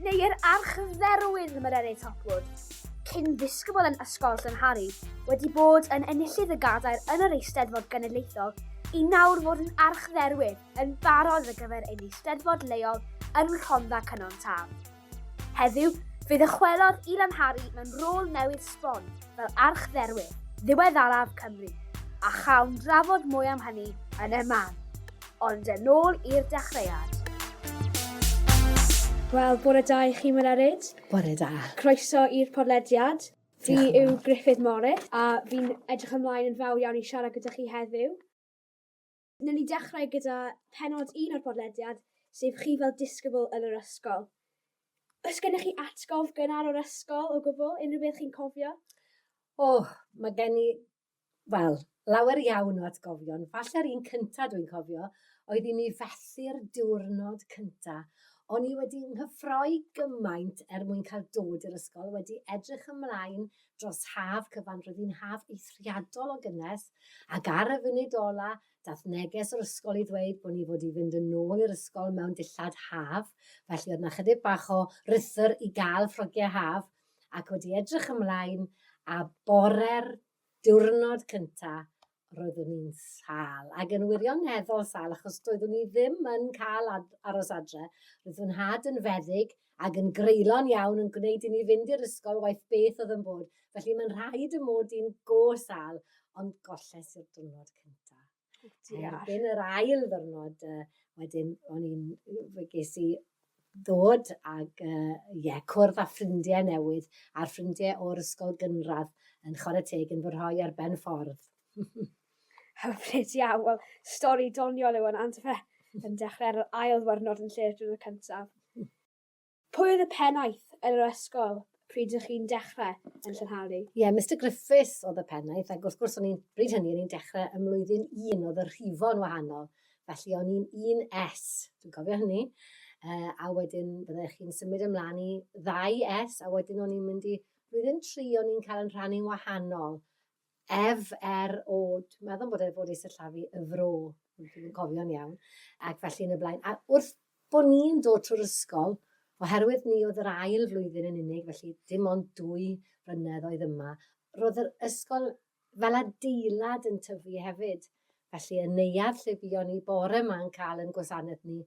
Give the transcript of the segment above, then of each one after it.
neu yr Archdderwydd Mererid Hopwood, cyn ddisgybl yn Ysgol Llanhari, wedi bod yn enillydd y gadair yn yr Eisteddfod Genedlaethol, i nawr fod yn Archdderwydd yn barod ar gyfer ein Eisteddfod leol yn Rhondda Cynon Taf. Heddiw, fe ddychwelodd i Lanhari mewn rôl newydd sbon fel Archdderwydd ddiweddaraf Cymru, a chawn drafod mwy am hynny yn y man. Ond yn ôl i'r dechreuad. Wel, bore da i chi, Mererid. Bore da. Croeso i'r podlediad. Fi yw Griffith Morris, a fi'n edrych ymlaen yn fawr iawn i siarad gyda chi heddiw. Newn ni dechrau gyda penod un o'r podlediad, sef chi fel disgybl yn yr ysgol. Oes gennych chi atgof gynnar o'r ysgol o gwbl, unrhyw beth chi'n cofio? O, mae gen i Wel, lawer iawn o atgofion. Falle'r un cynta dwi'n cofio oedd i mi fethu'r diwrnod cynta. O'n i wedi nghyffroi gymaint er mwyn cael dod i'r ysgol, wedi edrych ymlaen dros haf cyfan, roedd hi'n haf eithriadol o gynnes, ac ar y funud ola, dath neges o'r ysgol i ddweud bod ni fod i fynd yn ôl i'r ysgol mewn dillad haf, felly oedd 'na chydig bach o rythr i gael ffrogiau haf, ac wedi edrych ymlaen a bore'r diwrnod cynta roeddwn i'n sal ac yn wirioneddol sal achos doeddwn i ddim yn cael ad- aros adre. Roedd fy nhad yn feddyg ac yn greulon iawn yn gwneud i ni fynd i'r ysgol waeth beth oedd yn bod, felly mae'n rhaid y mod i'n go sal, ond golles i'r diwrnod cynta. Erbyn yr ail ddwrnod uh, wedyn o'n i'n, fe ges i ddod ag, uh, ie, cwrdd â ffrindiau newydd, a'r ffrindiau o'r ysgol gynradd yn chwarae teg yn fy rhoi ar ben ffordd. Hyfryd iawn, wel, stori doniol yw hwnna, ond fe, yn dechrau ar yr ail ddwrnod yn lle'r diwrnod cyntaf. Pwy oedd y pennaeth yn yr ysgol pryd ydych chi'n dechrau yn Llynhalu? Ie, yeah, Mr Griffiths oedd y pennaeth, ac wrth gwrs o'n i'n, bryd hynny, o'n i'n dechrau ym mlwyddyn un, oedd y rhifo'n wahanol, felly o'n i'n un S, dwi'n cofio hynny, uh, a wedyn byddai chi'n symud ymlaen i ddau S, a wedyn o'n i'n mynd i, blwyddyn tri o'n i'n cael yn rhannu'n wahanol, Ef, er o'd, meddwl am bod e fod ei sillafu y fro, ond dwi'm yn cofio'n iawn, ac felly yn y blaen. A wrth bod ni'n dod trwy'r ysgol, oherwydd ni oedd yr ail flwyddyn yn unig, felly dim ond dwy flynedd oedd yma, roedd yr ysgol fel adeilad yn tyfu hefyd. Felly y neuadd lle buon ni bore ma'n cael yn gwasanaeth ni,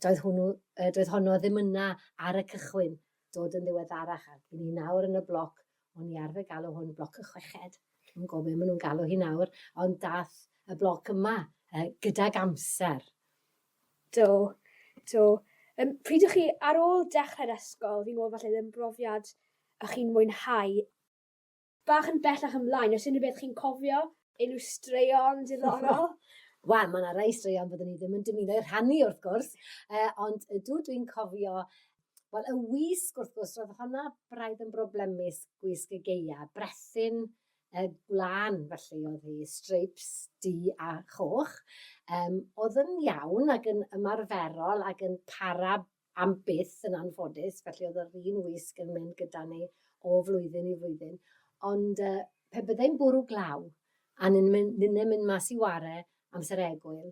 doedd hwnnw, doedd honno ddim yna ar y cychwyn. dod yn ddiweddarach ac i ni nawr yn y bloc, o'n i arfer galw hwn bloc y chweched, dwi'm yn gwybod be maen nhw'n galw hi nawr, ond daeth y bloc yma uh, gydag amser. Do, do. Um, pryd ych chi ar ôl dechrau'r ysgol, fi'n gwybod falle ddim brofiad ych chi'n mwynhau Bach yn bellach ymlaen o's unryw beth chi'n cofio? Unryw straeon diddorol? Wel ma' 'na rei straeon fyddwn i ddim yn dymuno eu rhannu wrth gwrs yy ond ydw dwi'n cofio wel y wisg wrth gwrs ro'dd honna braidd yn broblemus gwisg y Gaea brethyn yy gwlân felly o'dd 'i streips du a choch yym o'dd yn iawn ag yn ymarferol ag yn para am byth yn anffodus, felly oedd yr un wisg yn mynd gyda ni o flwyddyn i flwyddyn. Ond uh, pe byddai'n bwrw glaw, a ni'n mynd mas i ware amser egwyl,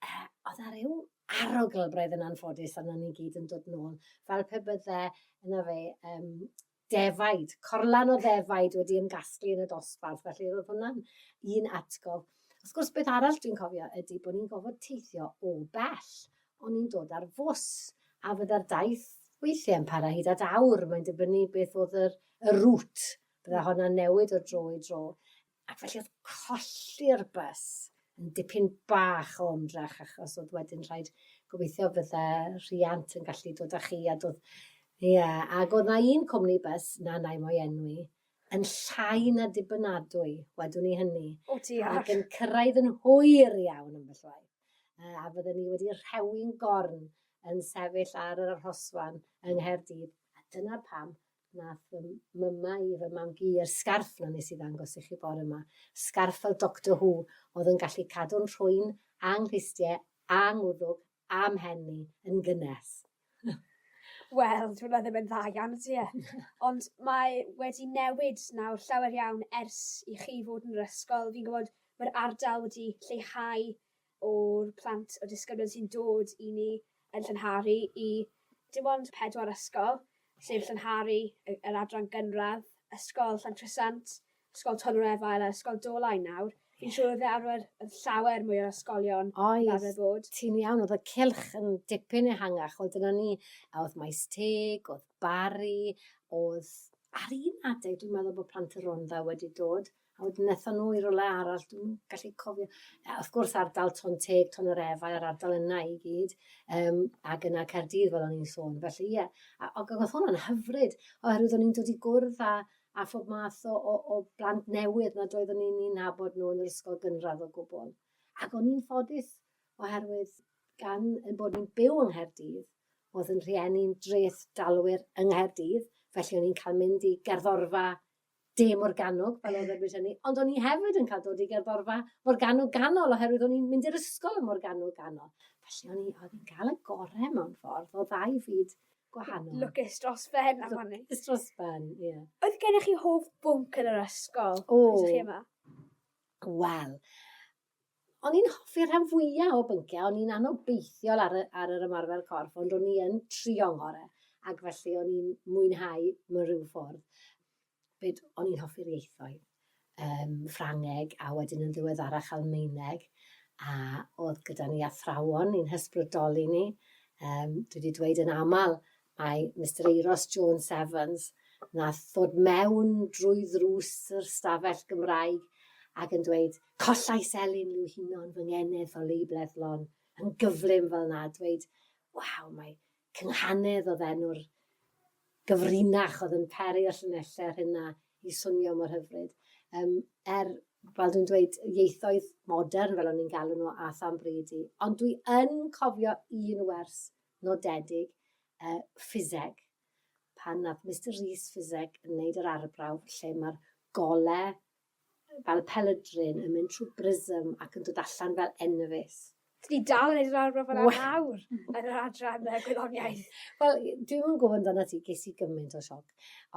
uh, oedd ar ryw arogl braidd yn anffodus arno ni gyd yn dod nôl, fel pe bydde yna fe um, defaid, corlan o ddefaid wedi ymgasglu yn y dosbarth, felly roedd hwnna'n un atgof. Wrth gwrs, beth arall dwi'n cofio ydy bod ni'n gofod teithio o bell, ond ni'n dod ar fws, a fydda'r daith weithiau yn para hyd at awr, mae'n dibynnu beth oedd yr, y rŵt, bydda hwnna'n newid o dro i dro. Ac felly oedd colli'r bus yn dipyn bach o ymdrech achos oedd wedyn rhaid gobeithio fydde rhiant yn gallu dod â chi a dod... Ie, yeah. ac oedd na un cwmni bus, na nai mo'i enwi, yn llai na dibynadwy, wedwn i hynny. O diar! Ac yn cyrraedd yn hwyr iawn ambell waith. Uh, a fydden ni wedi rhewi'n gorn yn sefyll ar yr arhosfan yng Nghaerdydd. A dyna pam Nath fy mama i fy mam-gu i'r sgarff 'na nes i ddangos i chi bore 'ma. Sgarff fel Doctor Who, o'dd yn gallu cadw'n rhwyn, a 'nghlustie, a 'ngwddwg, a 'mhen i, yn gynnes. Wel, dyw wnna ddim yn dda iawn, ydy e? Ond mae wedi newid nawr llawer iawn ers i chi fod yn yr ysgol. Fi'n gwbod ma'r ardal wedi lleihau o'r plant, o'r disgyblion sy'n dod i ni yn Llynharu i dim ond pedwar ysgol, sef Llynharu, yr adran gynradd, Ysgol Llantrisant, Ysgol Tonnau Efail a Ysgol Dolau nawr. Fi'n siŵr oedd e arfer yn llawer mwy o ysgolion oedd, fel arfer bod. Ti'n iawn, oedd y cylch yn dipyn ehangach, oedd dyna ni, a oedd Maes Teg, oedd Barry, oedd ar un adeg dwi'n meddwl bod plant y Rhondda wedi dod, A wedyn wnaethon nhw i rywle arall, dwi'm yn gallu cofio. A wrth gwrs ardal Ton Teg, Ton yr Efau a'r ardal yna i gyd, um, ac yna Caerdydd fel o'n i'n sôn. Felly ie, a, ac oedd hwnna'n hyfryd, oherwydd o'n i'n dod i gwrdd â, a phob math o, o, o blant newydd nad oeddwn i'n un nabod nhw yn yr ysgol gynradd o gwbl. Ac o'n i'n ffodus, oherwydd gan yn bod ni'n byw yng Nghaerdydd, oedd yn rhieni'n dreth dalwyr yng Nghaerdydd, felly o'n i'n cael mynd i gerddorfa De Morgannwg pan oedden ni hynny, ond o'n i hefyd yn cael dod i gerddorfa Morgannwg Ganol oherwydd o'n i'n mynd i'r ysgol ym Morgannwg Ganol. Felly o'n i, oedd hi'n cael y gorau mewn ffordd o ddau fyd gwahanol. Lwcus dros ben am hynny. Lwcus dros ben, ie. Yeah. Oedd gennych chi hoff bwnc yn yr ysgol? O. Oedd chi yma? Wel, o'n i'n hoffi'r rhan fwyaf o bynciau, o'n i'n anobeithiol ar, y, ar yr ymarfer corff, ond o'n i yn trio'n ngore, ac felly o'n i'n mwynhau mewn rhyw ffordd. Byd, o'n i'n hoffi'r ieithoedd, um, Ffrangeg a wedyn yn ddiweddarach Almeineg, a oedd gyda ni athrawon i'n hysbrydoli ni. Um, dwi wedi dweud yn aml Mae Mister Euros Jones Evans, wnaeth ddod mewn drwy ddrws yr ystafell Gymraeg ac yn dweud, Collais Elin Liw Hinon fy ngeneth o Leiblethlon yn gyflym fel na, dweud, waw, mae Cynghanedd oedd enw'r gyfrinach oedd yn peri y llinellau rhena i swnio mor hyfryd. Um, er, fel dwi'n dweud, ieithoedd modern fel o'n i'n galw nhw a than bryd i, ond dwi yn cofio un wers nodedig y ffiseg, pan wnaeth Mister Rees ffiseg yn wneud yr arbrawf lle mae'r golau fel y pelydrin yn mynd trwy brism ac yn dod allan fel enfys. Dwi dal yn neud yr arbrawf yna nawr yn yr adran yy gwyddoniaeth. Wel, dwi'm yn gwybod amdanat ti, ges i gymaint o sioc.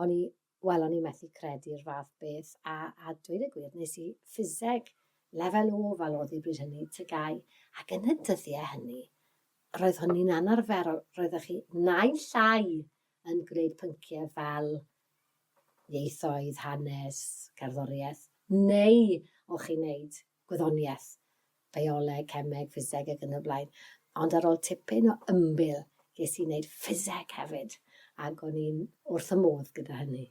O'n i Wel, o'n i methu credu'r fath beth, a, a dweud y gwir, nes i ffiseg lefel O fel oedd hi bryd hynny, tygau, ac yn y dyddiau hynny, roedd hynny'n anarferol, roeddech chi naill llai yn gwneud pynciau fel ieithoedd, hanes, cerddoriaeth, neu o'ch chi'n wneud gwyddoniaeth, bioleg, cemeg, ffiseg ac yn y blaen. Ond ar ôl tipyn o ymbil, ges i wneud ffiseg hefyd, ac o'n i'n wrth y modd gyda hynny.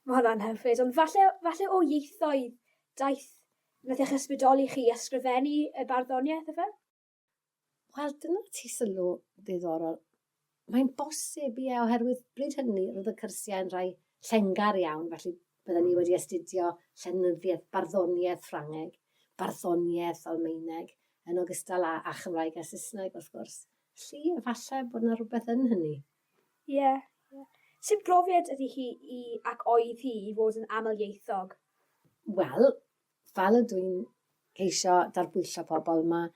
Mae hwnna'n hyfryd, ond falle, falle o ieithoedd daeth, wnaeth eich ysbrydoli chi i ysgrifennu y barddoniaeth, efe? Wel, dyna ti sylw ddiddorol. Mae'n bosib, ie, oherwydd bryd hynny roedd y cyrsiau yn rhai llengar iawn, felly bydden ni wedi astudio llenyddiaeth, barddoniaeth Ffrangeg, barddoniaeth Almaeneg, yn ogystal â, a Chymraeg a Saesneg, wrth gwrs. Felly, efallai bod yna rhywbeth yn hynny. Ie, yeah, ie. Yeah. Sut brofiad ydy hi i, ac oedd hi, i fod yn amlieithog? Wel, Fel ydw i'n ceisio darbwyllo pobl, mae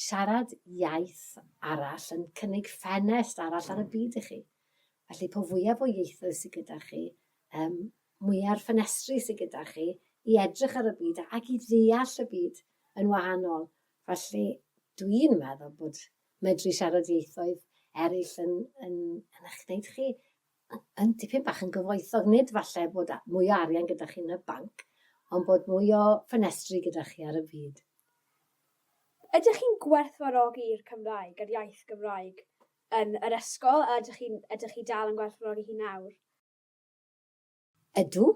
siarad iaith arall yn cynnig ffenest arall ar y byd i chi. Felly, po fwyaf o ieithoedd sydd gyda chi, um, mwyaf ffenestri sydd gyda chi i edrych ar y byd ac i ddeall y byd yn wahanol. Felly, dwi'n meddwl bod medru siarad ieithoedd eraill yn, yn, yn eich gwneud chi yn dipyn bach yn gyfoethog, nid falle bod mwy o arian gyda chi yn y banc, ond bod mwy o ffenestri gyda chi ar y byd. Ydych chi'n gwerthfawrogi'r Cymraeg, yr iaith Gymraeg, yn yr ysgol, a ydych chi dal yn gwerthfawrogi hi nawr? Ydw.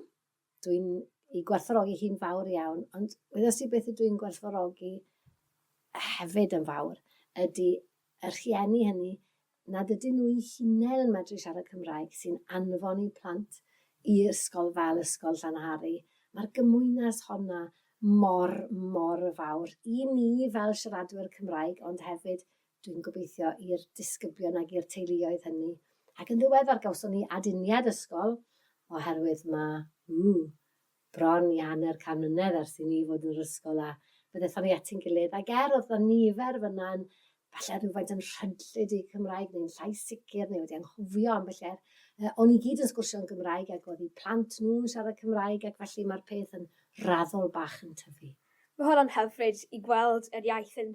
dwi'n ei gwerthfawrogi hi'n fawr iawn, ond wyddost ti beth ydw i'n gwerthfawrogi hefyd yn fawr, ydy y rhieni hynny nad ydyn nhw'i hunain yn medru siarad Cymraeg sy'n anfon i plant i ysgol fel Ysgol Llanhari. Mae'r gymwynas honna mor, mor fawr i ni fel siaradwyr Cymraeg, ond hefyd Dwi'n gobeithio i'r disgyblion ac i'r teuluoedd hynny. Ac yn ddiweddar gawson ni aduniad ysgol oherwydd mae, ww, bron i hanner can mlynedd ers i ni fod yn yr ysgol a fe ddethon ni ati'n gilydd ac er oedd 'na nifer fan'na yn falle rhywfaint yn rhydlyd i Cymraeg neu'n llais sicr neu wedi anghofio ambell er, uh, o'n i gyd yn sgwrsio yn Gymraeg ac oedd i plant nhw'n siarad Cymraeg ac felly mae'r peth yn raddol bach yn tyfu. Mae hwnna'n hyfryd i gweld yr iaith yn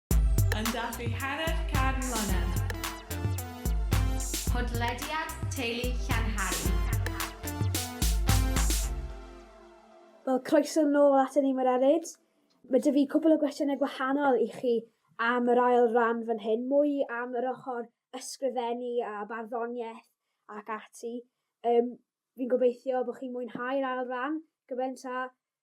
Yn dathlu hanner can mlynedd. Podlediad Teulu Llanhari. Wel, croeso nôl at ni, Mae'r Eryd. Mae dy fi cwbl o gwestiynau gwahanol i chi am yr ail ran fan hyn, mwy am yr ochr ysgrifennu a barddoniaeth ac ati. Um, fi'n gobeithio bod chi'n mwynhau'r ail ran gymaint a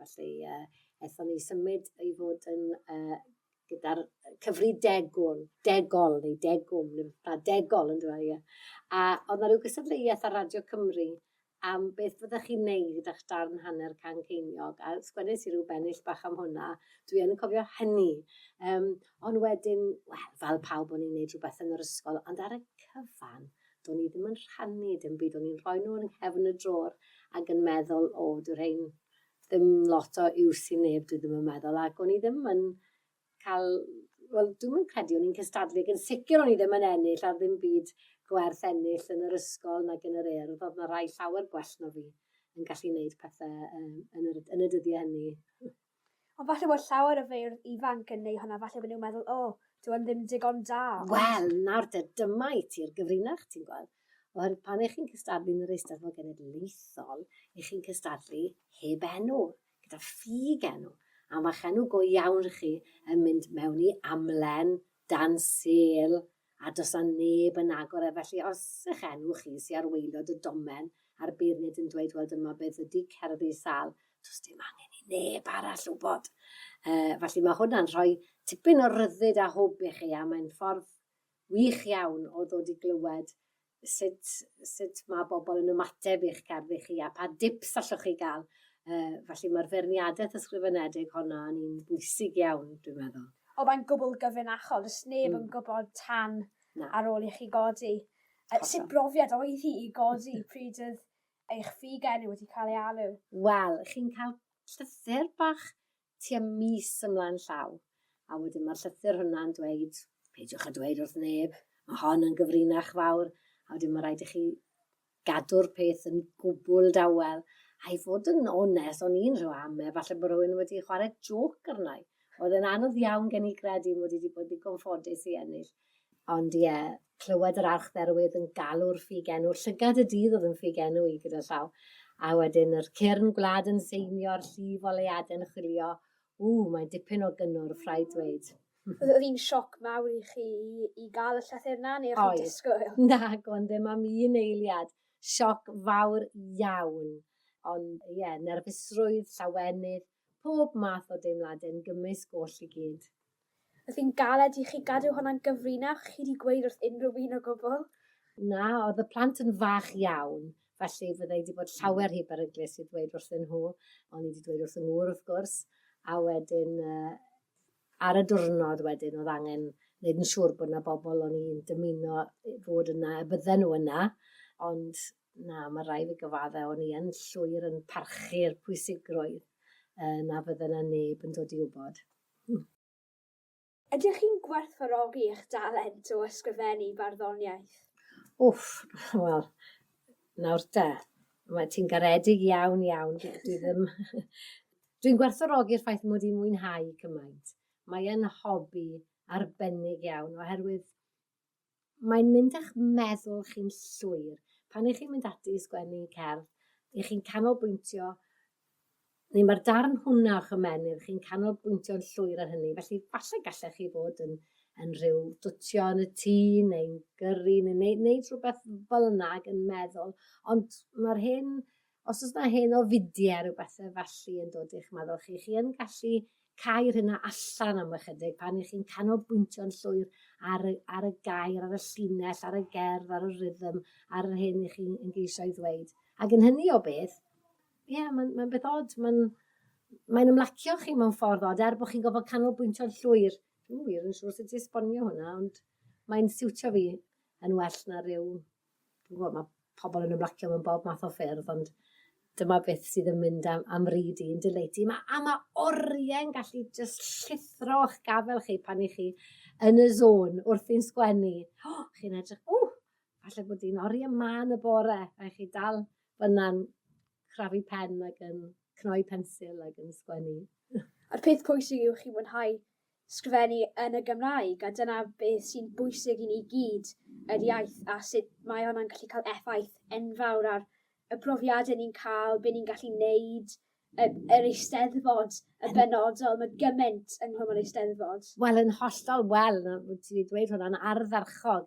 Felly yy aethon ni symud i fod yn yy gyda'r yy cyfri degwn, degol neu degwm neu beth bynnag, degol on'd yw e ie? A o'dd 'na ryw gystadleuaeth ar Radio Cymru am beth fyddech chi'n neud â'ch darn hanner can ceiniog a sgwennes i ryw bennill bach am hwnna. Dwi yn cofio hynny. Yym on' wedyn, wel fel pawb o'n i'n neud rhwbeth yn yr ysgol ond ar y cyfan do'n i ddim yn rhannu dim byd, o'n i'n rhoi nhw yn nghefn y drôr ac yn meddwl, o, dwi rhain ddim lot o iws i neb, dwi ddim yn meddwl, ac o'n i ddim yn cael, wel, dwi'n yn credu o'n i'n cystadlu, ac yn sicr o'n i ddim yn ennill ar ddim byd gwerth ennill yn yr ysgol nag yn yr urdd, oedd yna rai llawer gwell na fi yn gallu wneud pethau um, yn, yr, yn y dyddiau hynny. Ond falle bod llawer o feirdd ifanc yn neu' hwnna falle bo' nw'n meddwl o dyw e'n ddim digon da. Wel nawr te dyma i ti'r gyfrinach ti'n gweld. Oherwydd pan 'ych chi'n cystadlu yn yr Eisteddfod Genedlaethol 'ych chi'n cystadlu heb enw, gyda ffug enw. A ma'ch enw go iawn chi yn mynd mewn i amlen dan sêl a does a neb yn agor e felly os eich enw chi sy ar waelod y domen a'r beirniad yn dweud wel dyma beth ydy cerddi sal does dim angen i neb arall wybod uh, felly mae hwnna'n rhoi tipyn o ryddid a hwb i chi a mae'n ffordd wych iawn o ddod i glywed sut sut ma' bobol yn ymateb i'ch cerddi chi a pa dips allwch chi ga'l yy felly ma'r feirniadeth ysgrifenedig honno yn un bwysig iawn dwi'n meddwl. O mae'n gwbwl gyfrinachol does neb yn hmm. gwbod tan Na. ar ôl i chi godi. Yy sut brofiad oedd hi i godi pryd oedd eich fig enw wedi cael ei alw? Wel, chi'n cael llythyr bach tua mis ymlaen llaw, a wedyn mae'r llythyr hwnna'n dweud, peidiwch â dweud wrth neb, mae hon yn gyfrinach fawr, a wedyn mae rhaid i chi gadw'r peth yn gwbl dawel. A i fod yn onest, o'n i'n rhyw am e, falle bod rhywun wedi chwarae joc arna i. Oedd e'n anodd iawn gen i gredu mod i wedi bod ddigon ffodus i ennill. Ond ie, clywed yr archdderwydd yn galw'r ffug enw, llygad y dydd oedd yn ffug enw i gyda llaw, a wedyn yr cyrn gwlad yn seinio'r llif oleuade'n chwilio, ww, mae'n dipyn o gynnwrf, rhaid dweud. Oedd hi'n sioc mawr i chi i gael y llythyr yna, neu o'ch chi'n disgwyl? Nag o'n, ddim am un eiliad. Sioc fawr iawn. Ond ie, nerfusrwydd, llawenydd, Pob math o deimlade'n gymysg oll i gyd. Os fi'n galed i chi gadw honna'n gyfrinach, chi 'di gweud wrth unrhyw un o gwbl? Na, oedd y plant yn fach iawn, felly fydda i 'di bod llawer rhy beryglus i ddweud wrthyn nhw. O'n i 'di dweud wrth 'y ngŵr, wrth gwrs, a wedyn ar y diwrnod wedyn oedd angen neud yn siŵr bod 'na bobl o'n i'n dymuno fod yna, y bydden nhw yna, ond Na, mae rhaid fi gyfaddau, o'n i yn llwyr yn parchu'r pwysigrwydd uh, na fydde na neb yn dod i wybod. Ydych chi'n gwerthfawrogi eich dalent o ysgrifennu barddoniaeth? Wff, wel, nawr te, mae ti'n garedig iawn, iawn. Dwi ddim... Dwi'n gwerthfawrogi'r ffaith mod i'n mwynhau cymaint. Mae'n hobi arbennig iawn, oherwydd Mae'n mynd â'ch meddwl chi'n llwyr. Pan ych chi'n mynd ati i sgwennu cerdd, ych chi'n canolbwyntio, neu mae'r darn hwnna o'ch ymennydd, chi'n canolbwyntio'n llwyr ar hynny. Felly, falle gallech chi fod yn, yn rhyw dwtio yn y tŷ, neu'n gyrru, neu wneud, wneud rhywbeth fel yna ac yn meddwl. Ond mae'r hyn Os oes yna hen ofidiau a rhyw bethau felly yn dod i'ch meddwl chi, chi yn gallu cau'r hynna allan am ychydig pan ych chi'n canolbwyntio'n llwyr ar y, ar y gair, ar y llinell, ar y gerdd, ar y rhythm, ar yr hyn ych chi'n geisio ei ddweud. Ac yn hynny o beth, ie, yeah, mae'n mae beth od, mae'n mae'n ymlacio chi mewn ffordd od, er bod chi'n gofod canolbwyntio'n llwyr. Dwi'n wir yn siŵr sut i esbonio hwnna, ond mae'n siwtio fi yn well na rhyw wel, mae pobl yn ymlacio mewn bob math o ffyrdd, ond dyma beth sydd yn mynd am, am ryd i'n dyleti. Mae, a mae oriau'n gallu just llithro o'ch gafel chi pan i chi yn y zôn wrth i'n sgwennu. Oh, chi'n edrych, o, oh, falle bod hi'n oriau ma yn y bore, a chi dal fyna'n crafu pen ac yn cnoi pensil ac yn sgwennu. A'r peth pwysig yw chi mwynhau sgrifennu yn y Gymraeg a dyna beth sy'n bwysig i ni gyd yr iaith a sut mae wnna'n gallu ca'l effaith enfawr ar y profiade ni'n ca'l be' ni'n gallu neud y yr Eisteddfod yn benodol ma' gyment yng Nghwm yr Eisteddfod. Wel yn hollol wel yy w- ti 'di dweud hwnna'n ardderchog.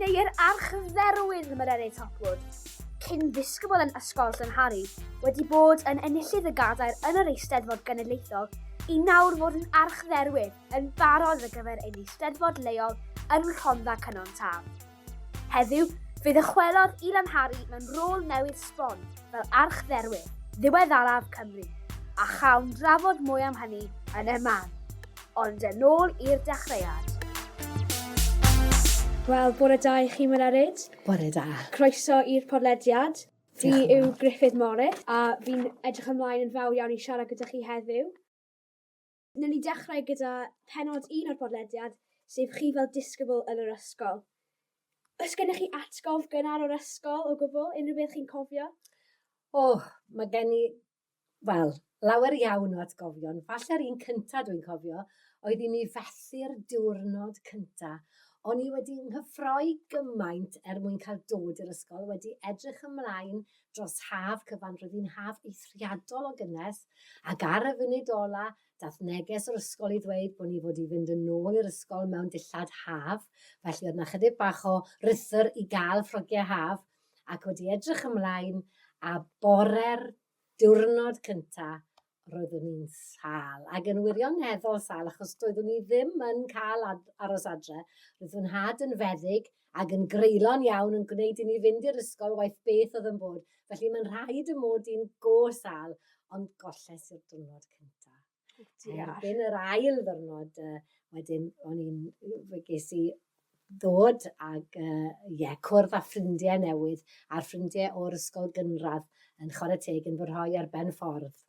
neu yr Archdderwydd Mererid Hopwood, cyn ddisgybl yn Ysgol Llanhari, wedi bod yn enillydd y gadair yn yr Eisteddfod Genedlaethol i nawr fod yn Archdderwydd yn barod ar gyfer ein Eisteddfod leol yn Rhondda Cynon Taf. Heddiw, fe ddychwelodd i Lanhari mewn rôl newydd sbon fel Archdderwydd ddiweddaraf Cymru, a chawn drafod mwy am hynny yn y man. ond yn ôl i'r dechreuad. Wel, bore da i chi, Mererid. Bore da. Croeso i'r podlediad. Fi yw Griffith Morris, a fi'n edrych ymlaen yn fawr iawn i siarad gyda chi heddiw. Newn ni dechrau gyda penod un o'r podlediad, sef chi fel disgybl yn yr ysgol. Os gennych chi atgof gynnar o'r ysgol o gwbl, unrhyw beth chi'n cofio? O, mae gen i wel, lawer iawn o atgofion. Falle'r un cynta dwi'n cofio oedd i mi fethu'r diwrnod cynta. O'n i wedi nghyffroi gymaint er mwyn cael dod i'r ysgol, wedi edrych ymlaen dros haf cyfan, roedd hi'n haf eithriadol o gynnes, ac ar y funud ola, dath neges o'r ysgol i ddweud bod ni fod i fynd yn ôl i'r ysgol mewn dillad haf, felly oedd 'na chydig bach o rythr i gael ffrogiau haf, ac wedi edrych ymlaen a bore'r diwrnod cynta roeddwn i'n sâl ac yn wirioneddol sâl achos doeddwn i ddim yn cael aros adre. Roedd fy nhad yn feddyg ac yn greulon iawn yn gwneud i ni fynd i'r ysgol waeth beth oedd yn bod, felly mae'n rhaid y mod i'n go sâl, ond golles i'r diwrnod cyntaf. Erbyn yr ail ddwrnod uh, wedyn o'n i'n, fe ges i ddod ag, uh, ie, cwrdd â ffrindiau newydd, a'r ffrindiau o'r ysgol gynradd yn chwarae teg yn fy rhoi ar ben ffordd.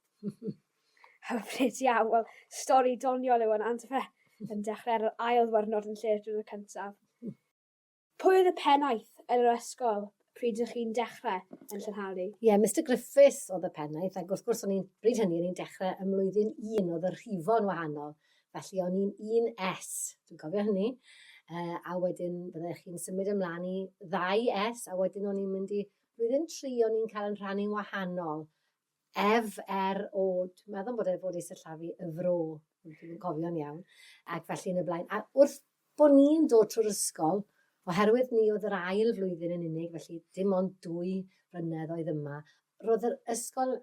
Hyfryd iawn, wel, stori doniol yw hwnna, ond fe, yn dechrau ar yr ail ddwrnod yn lle'r diwrnod cyntaf. Pwy oedd y pennaeth yn yr ysgol pryd ydych chi'n dechrau yn Llynhalu? Ie, yeah, Mister Griffiths oedd y pennaeth, ac wrth gwrs o'n i'n, bryd hynny, o'n i'n dechrau ym mlwyddyn un, oedd y rhifo'n wahanol. Felly o'n i'n un S, dwi'n cofio hynny. Uh, a wedyn byddech chi'n symud ymlaen i ddau S, a wedyn o'n i'n mynd i blwyddyn tri, o'n i'n cael yn rhannu'n wahanol. Ef, er o'd, meddwl bod e fod ei sillafu y fro, ond dwi'm yn cofio'n iawn, ac felly yn y blaen. A wrth bod ni'n dod trwy'r ysgol, oherwydd ni oedd yr ail flwyddyn yn unig, felly dim ond dwy flynedd oedd yma, roedd yr ysgol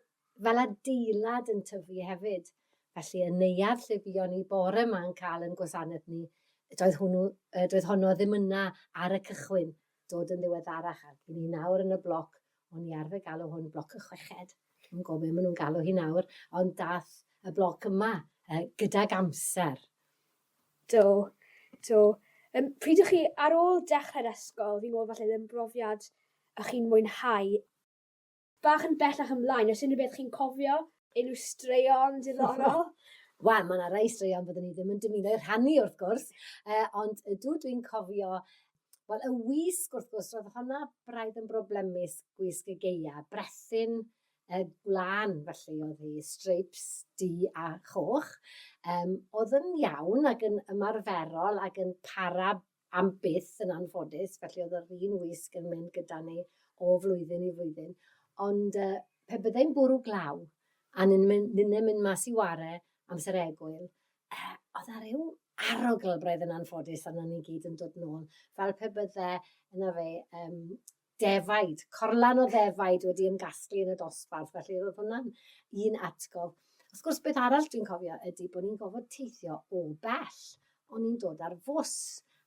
fel adeilad yn tyfu hefyd. Felly y neuadd lle buon ni bore ma'n cael yn gwasanaeth ni, doedd hwnnw, doedd honno ddim yna ar y cychwyn. dod yn ddiweddarach a dyn ni nawr yn y bloc, o'n i arfer galw hwn bloc y chweched, dwi'm yn gwybod be maen nhw'n galw hi nawr, ond daeth y bloc yma uh, gydag amser. Do, do. Um, pryd ych chi ar ôl dechrau'r ysgol, fi'n gwybod falle ddim brofiad ych chi'n mwynhau Bach yn bellach ymlaen o's unryw beth chi'n cofio? Unryw straeon diddorol? Wel ma' 'na rei straeon fyddwn i ddim yn dymuno eu rhannu wrth gwrs yy ond ydw dwi'n cofio wel y wisg wrth gwrs ro'dd honna braidd yn broblemus gwisg y Gaea brethyn yy gwlân felly o'dd 'i streips du a choch yym o'dd yn iawn ag yn ymarferol ag yn para am byth yn anffodus, felly oedd yr un wisg yn mynd gyda ni o flwyddyn i flwyddyn. Ond uh, pe byddai'n bwrw glaw, a ni'n mynd, ni'n mynd mas i ware amser egwyl, uh, oedd ar ryw arogl braidd yn anffodus arno ni gyd yn dod nôl, fel pe bydde yna fe um, defaid, corlan o ddefaid wedi ymgasglu yn y dosbarth, felly roedd hwnna'n un atgof. Wrth gwrs, beth arall dwi'n cofio ydy bod ni'n gofod teithio o bell, ond ni'n dod ar fws,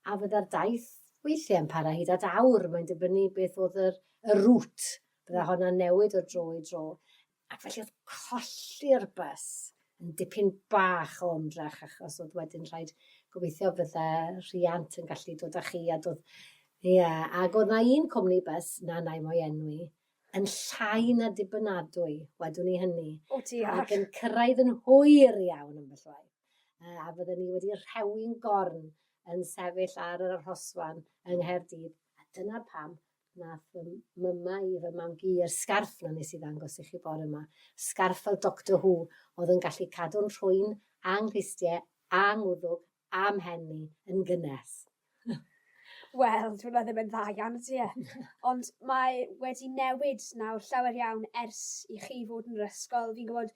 a fydda'r daith weithiau yn para hyd at awr, mae'n dibynnu beth oedd yr, y rŵt, bydda hwnna'n newid o dro i dro. Ac felly oedd colli'r bus yn dipyn bach o ymdrech achos oedd wedyn rhaid gobeithio fydde rhiant yn gallu dod â chi a dod... Ie, yeah. ac oedd na un cwmni bus, na nai mo'i enwi, yn llai na dibynadwy, wedwn i hynny. O ti ar! Ac yn cyrraedd yn hwyr iawn yn fy llwaith. Uh, a fydden ni wedi rhewi'n gorn yn sefyll ar yr arhosfan yng Nghaerdydd. A dyna pam Nath fy mama i fy mam-gu i'r sgarff 'na nes i ddangos i chi bore 'ma. Sgarff fel Doctor Who, o'dd yn gallu cadw'n rhwyn, a 'nghlustie, a 'ngwddwg, a 'mhen i, yn gynnes. Wel, dyw wnna ddim yn dda iawn ydy e? Ond mae wedi newid nawr llawer iawn ers i chi fod yn yr ysgol, fi'n gwbod